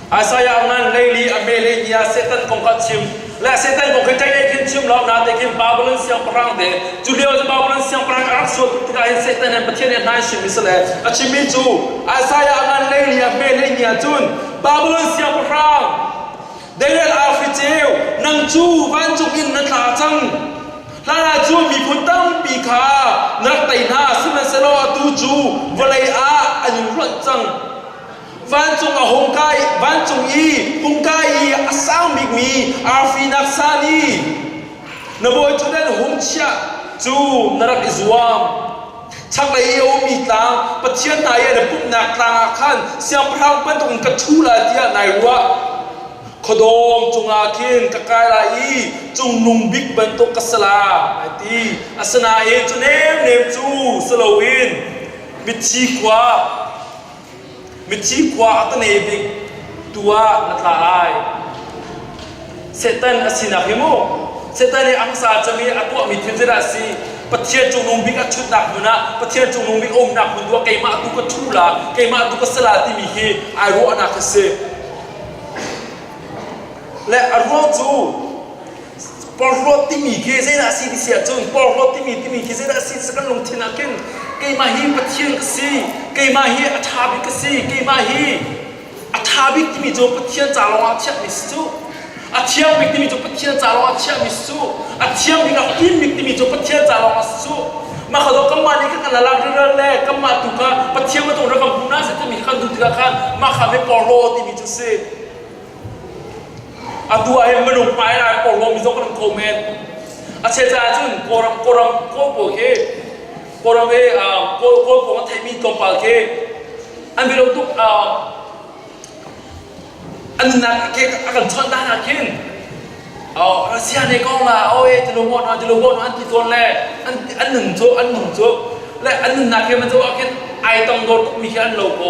Isaiah nan leili a mele tiah Satan kong kha chim le Satan kong khi ṭei lei khin chim law na te khin Babylon siangpahrang de cu lio cu Babylon siangpahrang a rak sual tuk tikah hin Satan he Pathian he hnai hrim sile a chimmi cu Isaiah nan leili a mele ni ahcun Babylon siangpahrang David Alfricheu nang cu vancung in na tla cang hlan ahcun miphun tampi kha na rak tei hna sihmanhsehlaw atu cu vawlei ah an in ruat cang vancung a hung kai vancung i hung kai i a sang bikmi arfinak sa nih na bawi cu nan hung chiah cu na rak i zuam chaklei i a ummi tlang pathian hna i na pumhnak tlangah khan siangpahrang bantuk in ka ṭhu lai tiah nai ruah khuadawm cungah khin ka kai lai i cungnung bik bantuk ka salam ai ti asinain cu nem nem cu si loin mithi khua Mithi khua a ka ne bik tu ah na tla lai. Satan a sinak hi mu, Satan i angsa cem i a tuahmi thil zedah a si? Pathian cungnung bik a ṭhutnak hmun ah, Pathian cungnung bik a umnak hmun tu ah keimah tu ka ṭhu la, keimah tu ka sa la timi hi ai ruahnak a si. Le a ruang cu porhlawt timi khi zeidah a si ti si ahcun porhlawt timi timi khi zeidah a si ti kan lungthin ah khin keimah hi Pathian ka si keimah hi a ṭha bik ka si keimah hi a ṭha bik timi cu Pathian ca lawngah a chiahmi si cu a thiang bik timi cu Pathian ca lawngah a chiahmi si cu a thiang bik a fim bik timi cu Pathian ca lawngah si cu mah ka zaw kanmah nih kan lalak riral le kanmah tu kha Pathian ka dawt rak kan hmuh na sih timi kan duh tikah khan mah kha ve porhlaw timi cu si Atu ah hin minung hmai lai porhlaw mi zong kan tho men. A che caah cun Kawlram Kawlram Kawl pawl khi Kawlram he uh, Kawl Kawl pawng a theimi tlawmpal khi an bialau tuk uh, an nunnak a ke a kan chawnh dan ah khin uh, Russia ne kong la oe ti lung hon ti lung hon an ti tuan le an an nun cu an nun cu le an nunnak he man cu a khin ai tong dor tuk mi khi an lo ko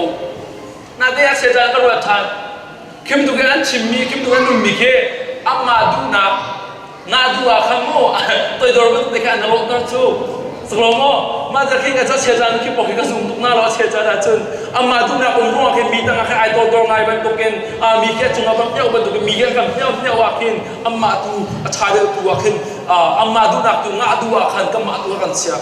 Nate a seca ka ruat ṭhan. Kim tuk i an chimmi, kim tuk an nunmi khi an ngah duhnak, ngah duh ah khan maw toidor bantuk te khan an rawhter cu. Sak lo maw? Mah ca khin ka ca seca nu khi pok hi ka zum tuk na law a seca dah cun amah duhnak um ruangah khin mi tangah khin ai toidor ngai bantukin a mi khi a cungah van pneuh bantukin mi khi an kan pneuh pneuh ah khin amah tu a ṭha deuh tu ah khin amah duhnak tu ngah duh ah khan kanmah tu a kan chiah.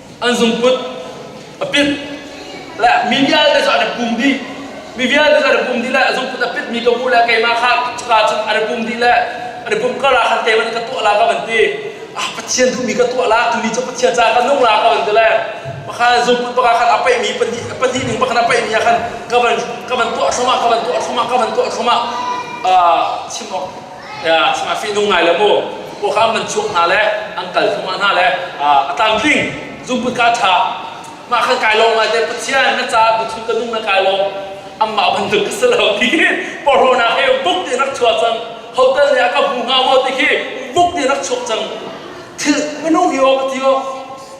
an zungput a pit le mi vialte cu an pum dih mi vialte cu an pum dih le zungput a pit mi ka bu le keimah kha caka cun an pum dih le an pum kar ah khan keimah nih ka tuah la ka van ti ah pathian duhmi ka tuah la tuni cu pathian ca ka nung la ka van ti le pakhan zungput pakha khan a peih mi pahnih pahnih ning pakhan a peih mi ah khan ka van ka van tuah thluamah ka van tuah thluamah ka van tuah thluamah chim awk ya a fihnung ngai le mu pokhang man chuak hna le an kal thuma hna le a tlamtling zungput ka tha mah kan kai long ngai te pathian na ca buchun ka nung na kai long amah bantuk ka selo ti porona he buk ti rak chua cang hotel ne aka hu nga mo ti khi buk ti rak chok cang thil minung hi o patio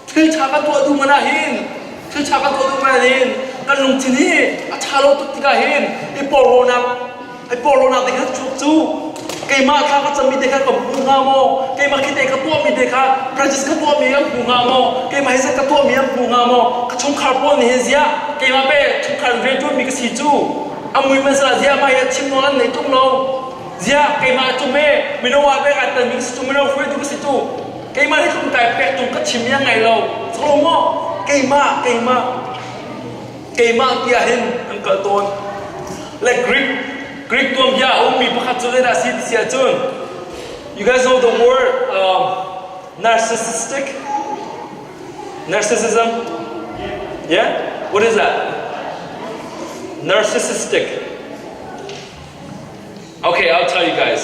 thil tha ka to du mana hin thil tha ka to du mana hin kan lungchin hi a tha lo tuk tika hin i porona Hei porlonak te kha chuak cu keimah kha ka cami te kha ka hmu hnga maw keimah khi te ka tuahmi te kha practice ka tuahmi an hmu hnga maw keimah hi zat ka tuahmi an hmu hnga maw ka chungkhar pawl nih hin ziah keimah be chungkhar in rianṭuanmi ka si cu a mui man sal ziah mai a thim nawl an nei ṭung lo ziah keimah a ṭum e mino ah pek aa tanmi ka si cu mino hruaitu ka si cu keimah hi tlungtai pek tung ka thim i a ngai lo soklo maw keimah keimah keimah ti ah hin an kal tawn le Greek Greek tuanbia a ummi pakhat cu zeidah a si ti si ahcun you guys know the word um, narcissistic narcissism yeah what is that narcissistic okay I'll tell you guys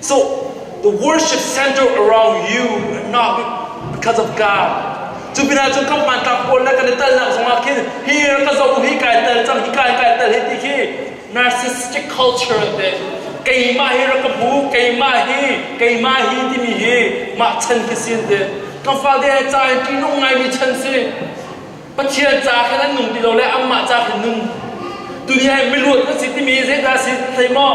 So the worship center around you and not because of God. Cu pinah cun kan hmanthlak pawl le kan i telnak zongah khin hi ka zoh hi kai tel cang hi kai kai tel hi ti khi narcissistic culture te keimah hi ra ka hmu keimah hi keimah hi timi hi mah chan khi sin te kan fate he ca in ṭihnung ngaimi chan si Pathian ca khin an nung ti lo le anmah ca khin nung duniya hi miluat na si timi zeidah si thei maw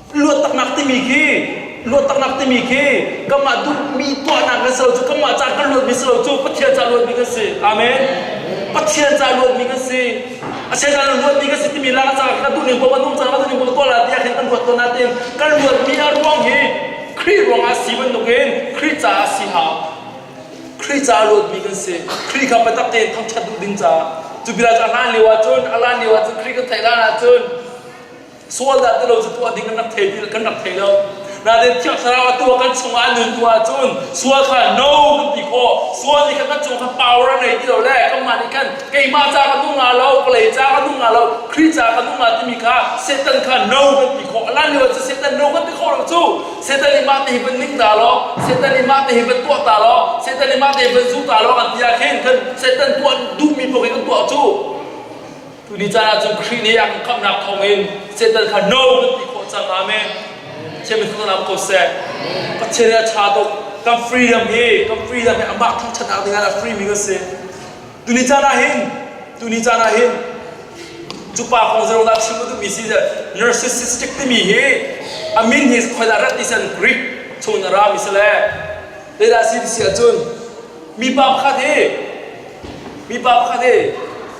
luattaknak timi khi luattaknak timi khi kanmah duhmi tuahnak le silo cu kanmah ca kan luatmi silo cu Pathian ca luatmi kan si amen Pathian ca luatmi kan si a se ca luatmi kan si timi lak ca ka duhning ko kan um ca ka duhning ko tuala ti ah khin kan ruat ko natin kan luatmi a ruang hi Khrih ruang ah si bantuk in Khrih ca ah si ha Khrih ca luatmi kan si Khrih kha biatak tein thangṭhat duh ding ca cu bila ca hlan lio ahcun a hlan lio ahcun Khrih kan theih hlan ahcun sual dah ti lo cu tuah ding kan rak thei kan rak thei lo nain thiang thlarau a tuah kan chungah a nun tuah ahcun sual kha no kan ti khawh sual nih khan kan cung kha power a nei ti lo le kanmah nih khan keimah ca ka nung nga lo vawlei ca ka nung nga lo Khrih ca ka nung nga timi kha Satan kha no kan ti khawh lan lio cu Satan no kan ti khawh lo cu Satan nih mah te hi van ning ta law Satan nih mah te hi van tuah ta law Satan nih mah te hi van zu ta law kan ti ah khin khan Satan tuah duhmi poh khi kan tuah cu Tuni caan ahcun Khrih nih a kan khamhnak thawngin Satan kha no kan ti khawh cang amen. Pathian min thanglam ko seh. Pathian nih a ṭha tuk. Kan freedom hi, kan freedom hi amah thangṭhatnak dingah a free mi kan si. Tuni caan ah hin, tuni caan ah hin, cu pa kong zeirung dah chim ka duhmi si je, narcissistic timi hi, a min hi khoidah rat ti sen Greek chungin a ra mi si le, zeidah si ti si ahcun, mipa pakhat hi, mipa pakhat hi,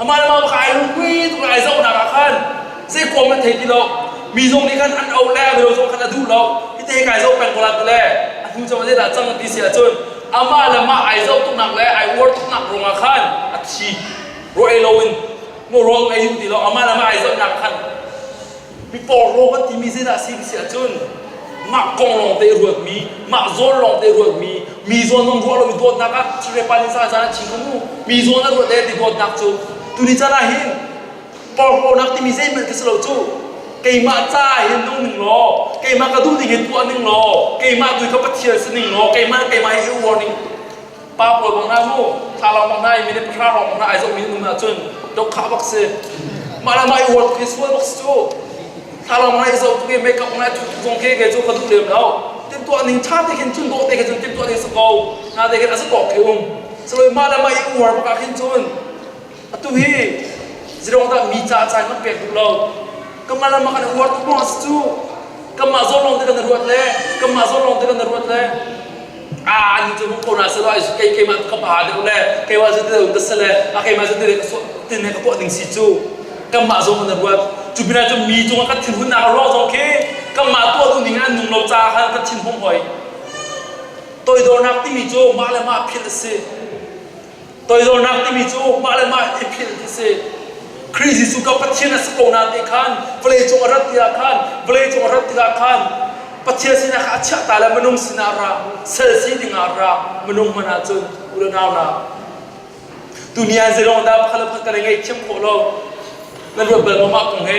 Amah le mah bak ai rukui tuk le ai zohnak ah khan zei kuam an thei ti lo. Mi zong nih khan an auh le a mino zong khan a duh lo. Hite kai zoh peng ko la tile a hnu cang zeidah cang ti si ahcun amah le mah ai zoh tuknak le ai uar tuknak ruangah khan a thi. Ruah ei loin maw ruang ei duh ti lo. Amah le mah ai zohnak khan Mipawhrawm an timi zeidah a si ka si ahcun mah kong lawngte i ruatmi mah zawn lawngte i ruatmi mi zawn zong ruah lomi dawtnak ah Sri Palinsa caan ah chingkum u mi zawn a ruat e ti dawtnak cu tuni caan ah hin porhlawnak timi zeihmanh ka si lo cu keimah ca hin nung ning law keimah ka duh ding hin tuah ning law keimah tu hi ka Pathian si ning law keimah keimah hi i u warning pa pawl bang hna mu thalaw bang hna i minute pahra lawng bang hna ai zoh mi um ah cun dokhah bak si mah le mah i huat khi sual bak si cu thalaw bang hna i zoh tu hi make up bang hna cu kong ke ke cu ka duh lem lo timtuah ning tha te khin cun dawh te khin cun timtuah ning sa ko hna te khin azatawk khi um saloi mah le mah i uar bak ah khin cun Atu hi zirongdah mi ca ca kan pek duh lo. Kanmah lam ah kan ruat tuk lawng si cu. Kanmah zawn lawng te kan ruat le kanmah zawn lawng te kan ruat le ah an cu ko na selo ai kai kai ma ka ha deuh le kai wa zati deuh das le a kai ma zati tin ne ka po ding si cu kanmah zawn kan ruat cu bina cu mi cung kan thin hun na ruang zong khi kanmah to du ning an nung lo ca kha kan thin hong hoi toidornak timi cu mah le mah phil si Toidornak timi cu mah le mah thil hi a si. Khrih Jesuh ka Pathian a si ko na te khan vawlei cung a rat tikah khan vawlei cung a rat tikah khan Pathian sinah khan a chiah ta le minung sinah ra sel si dingah ra minung hman ahcun unau na tu ni an zeilawng dah pakhat le pakhat kan i ngaihthiam khawh lo nan ruat bal maw mah kong he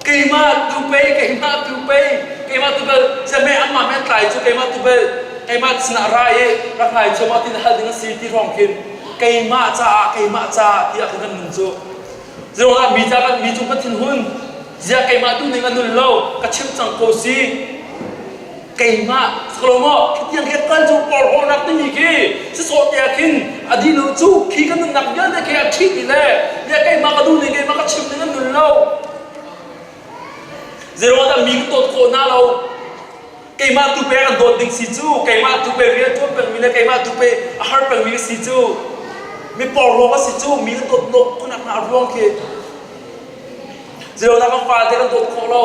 keimah tu pei keimah tu pei keimah tu bel siameh anmah me tlai cu keimah tu bel keimah sinah ra i rak hlai cu maw ti hal ding a si ti hrawng khin keimah caah keimah caah tiah khin kan nun cu zeruangah mi ca kan mi cu ka thin hun ziah keimah tu ning a nul lo ka chimh cang ko si keimah Salomo thutiang khe kan cu porhlawnak timi khi sisawh te ah khin a dino cu khi kan nunnak vialte khe a ṭhit i le ne keimah ka duh ning keimah ka chim ning an nul lo zeiruangah mi ka dawt khawh na lo keimah tu pe kan dawt ding si cu keimah tu pe rian ṭuan pengmi le keimah tu pe a har pengmi ka si cu mi porhlawng ka si cu mi kan dawt lo khawnak hna a ruang khi zeiruangah kan fate kan dawt khawh lo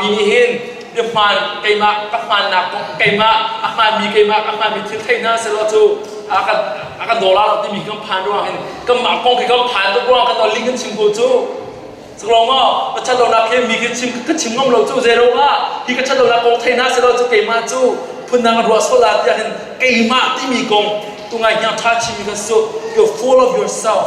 mi nih hin na hmaan keimah ka hmaannak kong keimah a hmaanmi keimah ka hmaanmi thil thei hna selaw cu a kan a kan dolar timi kan phan ruang in kanmah kong khi kan phan tuk ruang kan dolling kan chim ko cu saklawng maw ka ṭhatlonak he mi ka chim ka chim ngam lo cu zeiro ah hi ka ṭhatlonak kong thei hna selaw cu keimah cu phundang ruah sol ah tiah hin keimah timi kong tu ngai hniang ṭha chimi kan sut you're full of yourself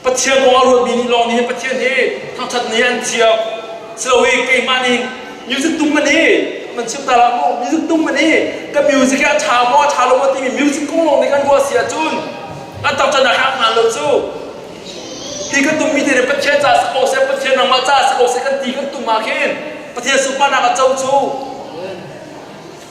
Pathian aw a ruatmi nih lawng nihin Pathian hi thangṭhat ni an thiam. Silohi keimah nih music tum man hi man chim ta lah mu. Music tum man hi ka music hi a ṭha maw a ṭha lo maw timi music kong lawng nih kan ruah si ahcun an thangṭhat a hak hna lo cu. Hi kan tummi te nih Pathian caah si ko seh, Pathian nangmah caah si ko seh kan ti kan tum ah khin Pathian sunparnak a co cu.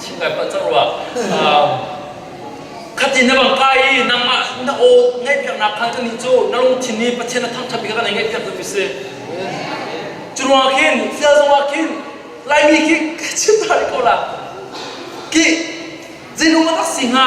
chim ngai pah cang rua. Um, khatin na bang kai i nangmah na aw ngaihpiaknak kha kan hi cu na lungthin i Pathian a thangṭhat bik kan i ngaihpiak tu mi si. Cu ruang ah khin, sial zong ah khin, Laimi khi ka chim ta rih ko la. Ki, zeitluk a tak si hnga,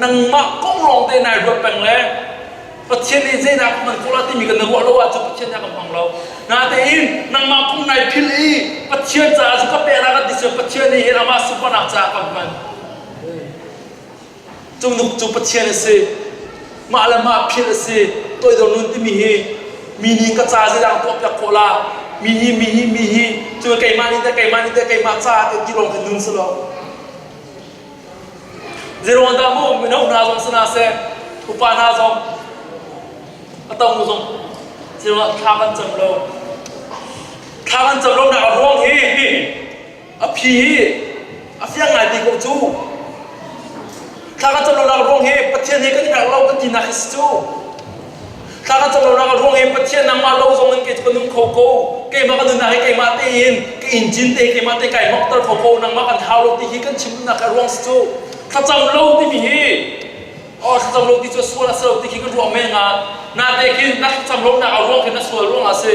nangmah kong lawng te nai ruat peng le Pathian nih zeidah ka hman khawh la timi kan na ruah lo ahcun Pathian nih a kan hmang lo natein nangmah kong nai philh i Pathian caah cu ka pehna kan ti cu Pathian nih hin amah sunparnak caah kan hman cu nuk cu Pathian a si mah le mah philh a si toidor nun timi hi mi nih ka ca zeidah kan tuahpiak khawh la mi nih mi hi mi hi cu keimah nih teh keimah nih teh keimah caah teh ti lawng te nun si lo Zeiruangdah mu mino hna zong si hna seh, upa hna zong, a tong zong zeiruang thla kan cam lo. Thla kan cam lo nak a ruang hi a phi hi a fiang ngai ti ko cu. Thla kan cam lo nak ruang hi Pathian hi kan i rak lo ka tinak hi si cu. Thla ka cam lonak a ruang hi Pathian nangmah lo zong in kei cu ka nung kho ko. Keimah ka nunnak hi keimah tein ka in cin te keimah te kai hnokter kho ko nangmah kan hau lo ti hi kan chim duhnak a ruang si cu thlacam lo timi hi oh thlacam lo ti cu sual a si lo ti khi ka ruah men ah nate khin na thlacam lonak a ruang khi na sual ruang ah a si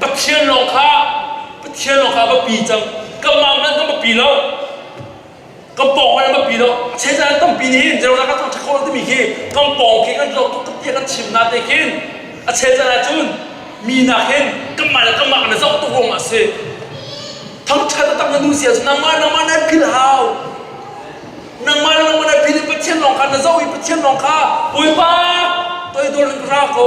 Pathian lawng kha Pathian lawng kha va pi cang kanmah hmanh kan va pi lo kan pawng hmanh va pi lo che can tampi nih hin Jerusalem kan thangṭhat khawh timi khi kan pawng khi kan lo tuk tiah kan chim na te khin a che can ahcun mi nak hin kanmah le kanmah kan i zoh tuk ruang a si thangṭhat a tak na nu sia cu nangmah nangmah na philhau nangmah le nangmah na phil i Pathian lawng kha na zoh i Pathian lawng kha Bawipa toidor in ka ra ko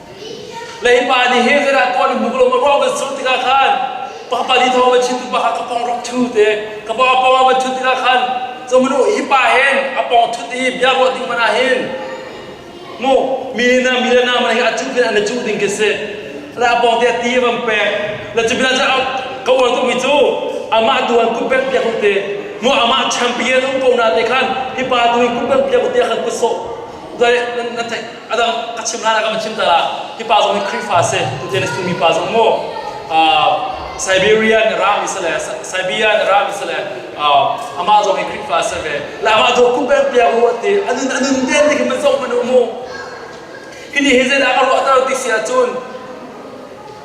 Leipa nih he zeidah tuah na hmuh lo ma ruang kan sung tikah khan papali thawng va chim pa ka pong rak ṭhu te ka pa pong va ṭhut tikah khan zomanu hi pa hen a pong ṭhut i bia ruah ding man ah hin mu mi na mi le na man hi a cuh pin an i cuh ding khi si la pong te ti van pek la cu bilan ka uan ko mi cu amah tu an kun pek piak te mu amah champion um ko na te khan hi pa tu in kun pek piak te khan ku so dai nan theih adang a chim hlan ah kan chim ta hi pa zong hi Khrihfa si tutan is tumi pa zong mu Siberia in Iraq isale Siberia in Iraq isale amah zong hi Khrihfa si ve la amah do kum peng piak u ati anun anun den ni kim zong manu mu hini hi zela ka ro ta ti sia chun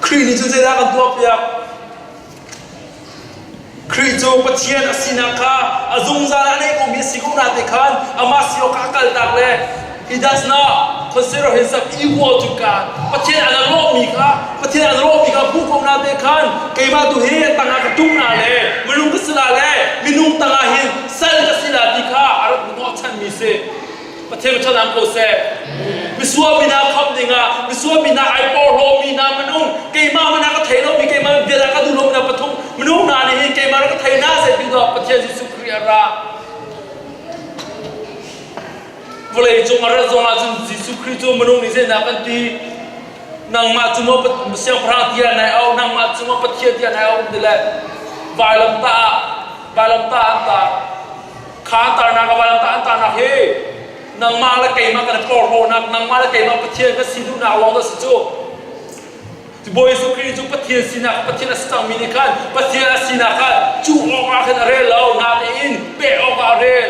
Khrih nih cu zeidah a kan tuahpiak? Khrih cu Pathian a sinak kha a zungzal ah a nei komi a si khawh nate khan amah si awkah a kaltak le He does not consider himself equal to God. Pathian an lawmhmi kha Pathian an lawmhmi kha hmuh ko nate khan keimah tu hi tangah ka ṭum la le minung ka si la le minung tangah hin sal ka si la ti kha a rak hmuhnawhchanmi si. Pathian thlarang ko seh. Misual mi hna khamh dingah, misual mi hna ai porhlaw mi hna minung, keimah hmanh ah ka thei lomi, keimah vial ah ka duh lomi hna pathum minung hna nih hin keimah ka thei hna zeitin tuah Pathian Jesuh Khrih a ra. Vawleicung a rat zong ahcun Jesuh Khrih cu minung nih zeinak an ti? Nangmah cungah siangpahrang tiah nai au, nangmah cungah Pathian tiah nai au ti le vailam ta ah, vailam ta ah an ta. kha tarnak a valan ta tarnak he nangmah le keimah kan kawrhawhnak nangmah le keimah Pathian kan si duhnak lawng dah si cu Bawi Jesuh Khrih cu Pathian sinak Pathian a si cangmi nih khan Pathian a sinak khan cu awkah khan a rel lo natein peh awkah a rel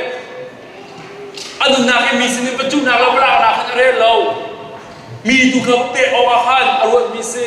a nunnak i mi sinin pacunak le valaknak khan a rel lo mi tu kha peh awkah khan a ruatmi si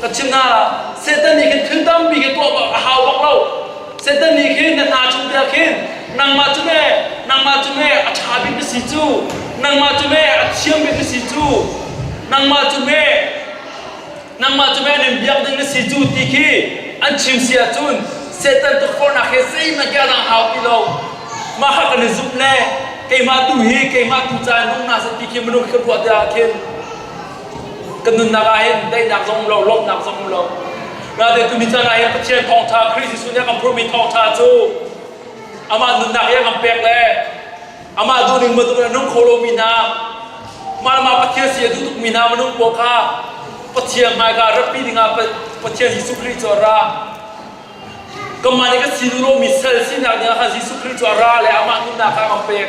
Ka chim hna, Satan nih khin thil tampi khi tuah bak a hau bak lo. Satan nih khin na hna chung te ah khin nangmah cu me nangmah cu me a ṭha bik na si cu nangmah cu me a thiam bik na si cu nangmah cu me nangmah cu me nan biak ding na si cu ti khi an chim si ahcun Satan tukforhnak hi zeihmanh ke a lang hau ti lo mah kha kan i zumh le keimah tu hi keimah tu ca in um hna seh ti khi minung khi kan ruah tiah khin Kan nunnak ahhin daihnak zong um lo, lawmhnak zong um lo. Rate tumi caan ahhin Pathian thawngtha, Khrist Jesuh nih a kan phurmi thawngtha cu amah nunnak i a kan pek le amah duhning bantuk in a nung kho lomi hna, mah le mah Pathian si a duh tukmi hna minung pawl kha Pathian hmaika ratpi dingah Pathian Jesuh Khrih cu a ra. Kanmah nih kan sinu lomi sal sinak dingah khan Jesuh Khrih cu a ra le amah nunnak kha a kan pek.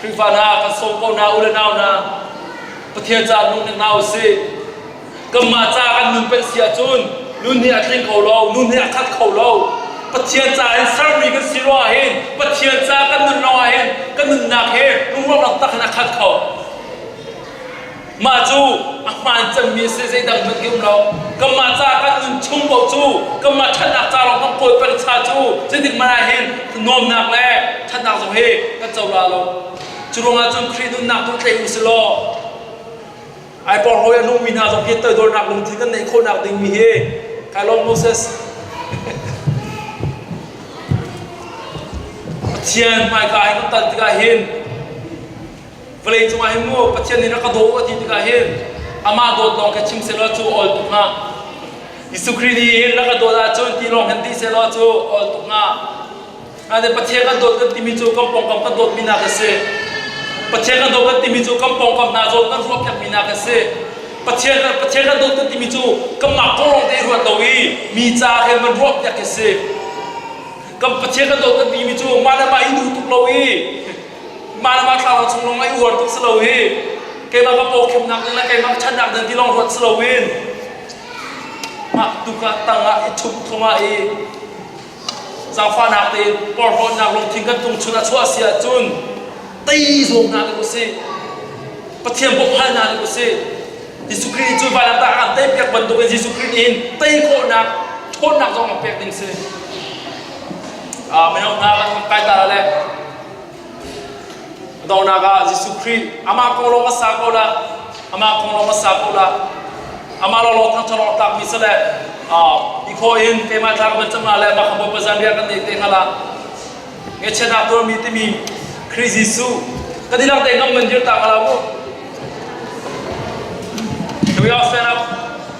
Khrihfa hna kan sawm ko hna u le nau hna Pathian ca nung ning hna u sih kanmah ca kan nun peng si ahcun nun hi a tling kho lo nun hi a khat kho lo Pathian ca in sermi kan si ruah ahhin Pathian ca kan nun lawng ahhin kan nunnak hi lungrual taktak in a khat kho Mah cu a hmaan cemmi a si, zeidang hmanh hi um lo. Kanmah ca kan nun chung paoh cu kanmah ṭhatnak ca lawng kan kawl pengsa cu zeitik hmanh ah hin nuamnak le ṭhatnak zong hi kan co la lo. Cu ruangah cun Khrih nunnak tu tleih u si law ai porhlawi a nungmi hna zong hi toidornak lungthin kan neih khawhnak dingmi hi kai lawm Moses. Pathian hmaika in kan tan tikah hin vawlei cungah hin mu Pathian nih rak ka daw a ti tikah hin amah dawt lawng kha chim sehlaw cu ol tuk hnga Jesuh Khrih nih rak ka dawt ahcun ti lawng hin ti sehlaw cu ol tuk hnga ade Pathian kan dawt kan timi cu kan pawngkam kan dawtmi nak a si Pathian kan dawt kan timi cu kan pawngkam hna zawn kan ruah piakmi nak a si Pathian kan Pathian kan dawt kan timi cu kanmah kong lawng te ruat lo i mi ca khin kan ruah piak a si kan Pathian kan dawt kan timi cu mah le mah i duh tuk lo i Mah thlarau chung lawng i uar tuk si lo hi keimah ka pawkhemnak ding le keimah ka ṭhatnak ding ti lawng ruat si loin mah tuk ah tang ah i thup thong ah i zaangfahnak tein porhlawtnak lungthin kan tung chun a chuah si ahcun tei zawm hna hlah usih Pathian bawmhhal hna hlah usih Jesuh Khrih cu vailamtah ah tei piak bantukin Jesuh Khrih nih hin tei khawhnak ṭhawnnak zong a pek ding si. Mino hna kan kan kai ta le Dawnak ah Jesuh Khrih amah kong lawng a sa ko la, amah kong lawng a sa ko la, amah lawlaw thangṭhat lawng tlakmi sale i khaw in keimah tlak bel cangla le mah Bawipa zanriah kan nei te ngala ngechiatnak tuarmi timi Khrih Jesuh ka dilang te ngam man dir ta kala mu. Can we all stand up?